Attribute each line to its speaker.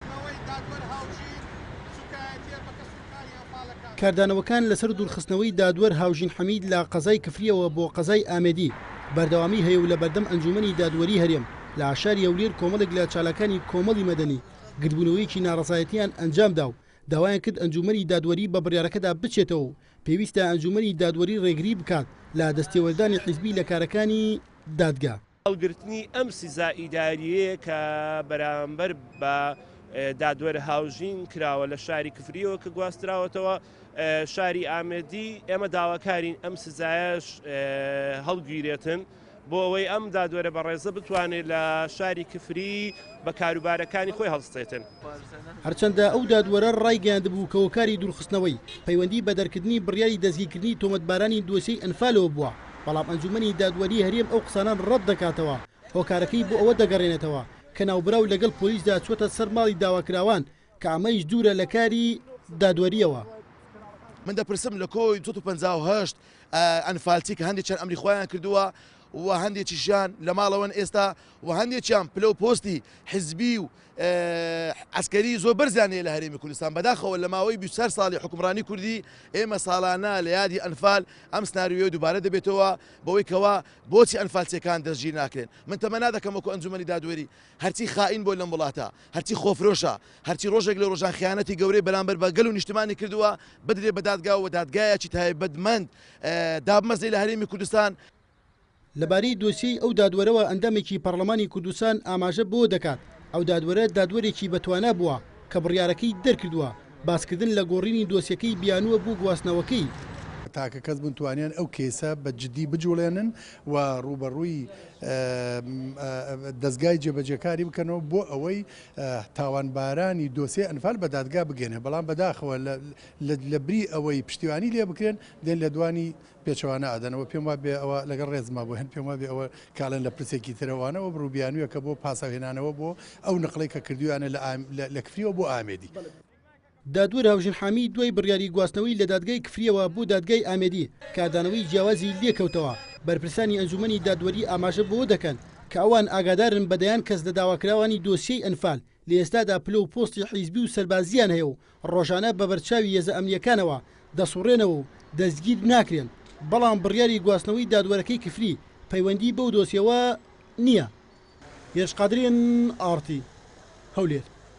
Speaker 1: نەوەی دادوەر هاوژین سوکایەتیە بە کەس و کاری ئەنفالەکان. کاردانەوەکان لەسەر دوورخستنەوەی دادوەر هاوژین حەمید لە قەزای کفرییەوە بۆ قەزای ئامێدی بەردەوامی هەیە و لە بەردەم ئەنجوومەنی دادوەری هەرێم لە شاری هەولێر کۆمەڵێک لە چالاکانی کۆمەڵی مەدەنی گردبوونەوەیەکی ناڕەزایەتییان ئەنجامدا و داوایان کرد ئەنجوومەنی دادوەری بە بڕیارەکەدا بچێتەوە و پێویستە ئەنجوومەنی دادوەری ڕێگری بکات لە دەستێوەردانی حیزبی لە کارەکانی دادگا. هەڵگرتنی ئەم
Speaker 2: سزا ئیدارییەیە کە بەرامبەر بە دادوەر هاوژین کراوە لە شاری کفریەوە کە گواستراوەتەوە شاری ئامێدی ئێمە داواکارین ئەم سزایش هەڵگیرێتن بۆ ئەوەی ئەم دادوەرە بەڕێزە بتوانێت لە شاری کفری بە کاروبارەکانی خۆی هەڵستێتن. هەرچەندە
Speaker 1: ئەو دادوەرە ڕایگەیاندبوو کە هۆکاری دوورخستنەوەی پەیوەندی بە دەرکردنی بڕیاری دەستگیرکردنی تۆمەتبارانی دۆسیەی ئەنفالەوە بووە، بەڵام ئەنجوومەنی دادوەریی هەرێم ئەو قسانە ڕەت دەکاتەوە، هۆکارەکەی بۆ ئەوە دەگەڕێنێتەوە کە ناوبراو لەگەڵ پۆلیسدا چووەتە سەر ماڵی داواکراوان کە ئەمەیش دوورە لە کاری دادوەرییەوە. من
Speaker 3: دەپرسم لە کۆی سەد و پەنجا و هەشت ئەنفالچی کە هەندێکیان ئەمری خۆیان کردووە و هەندێکیشیان لە ماڵەوەن ئێستا و هەندێکیان پلە و پۆستی حزبی و عەسکەری زۆر بەرزیان هەیە لە هەرێمی کوردستان، بەداخەوە لە ماوەی بیست و چوار ساڵی حوکمڕانی کوردی ئێمە ساڵانە لە یادی ئەنفال ئەم سناریۆیە دووبارە دەبێتەوە بەوەی کەوا بۆچی ئەنفالچیەکان دەستگیر ناکرێن من تەمەنا دەکەم وەکو ئەنجومەنی دادوەری هەرچی خائین بۆ لەم وڵاتە هەرچی خۆفرۆشە هەرچی ڕۆژێک لە ڕۆژان خیانەتی گەورەی بەرامبەر بە گەل و نیشتمانی کردووە بدرێ بە دادگا و دادگایەکی تایبەتمەند دابمەزرێ لە هەرێمی کوردستان. لەبارەی
Speaker 1: دۆسیەی ئەو دادوەرەوە ئەندامێکی پەڕڵەمانی کوردستان ئاماژە بەوە دەکات، ئەو دادوەرە دادوەرێکی بەتوانا بووە کە بڕیارەکەی دەرکردووە، باسکردن لە گۆڕینی دۆسیەکەی بیانووە بۆ گواستنەوەکەی. تاکە کەس
Speaker 4: بوون توانیان ئەو کەیسە بە جدی بجوڵێنن و ڕووبەڕووی دەزگای جێبەجێکاری بکەنەوە بۆ ئەوەی تاوانبارانی دۆسیەی ئەنفال بە دادگا بگەنێ بەڵام بەداخەوە لە لە بری ئەوەی پشتیوانی لێ بکرێن دێن لێدوانی پێچەوانە ئەدەن و پێم وابێ ئەوە لەگەڵ ڕێزما بۆ هند پێم وابێ ئەوە کاڵێن لە پرسێکی ترە وانە ئەو بڕو بیانویە کە بۆ پاساو هێنانەوە بۆ ئەو نقڵەی کە کردویانە لە ئام لە لە کفریەوە بۆ ئامێدی. دادوەر
Speaker 1: هاوژن حامی دوای بڕیاری گواستنەوەی لە دادگای کفریەوە بۆ دادگای ئامێدی کاردانەوەی جیاوازی لێکەوتەوە، بەرپرسانی ئەنجومەنی دادوەری ئاماژە بەوە دەکەن کە ئەوان ئاگادارن بە دەیان کەس لە داواکراوانی دۆسیەی ئەنفال لە ئێستادا پلە و پۆستی حیزبی و سەربازییان هەیە و ڕۆژانە بە بەرچاوی هێزە ئەمنییەکانەوە دەسوڕێنەوە و دەستگیر ناکرێن، بەڵام بڕیاری گواستنەوەی دادوەرەکەی کفری پەیوەندی بەو دۆسیەوە نییە. گێچ قادری، ئارتی، هەولێر.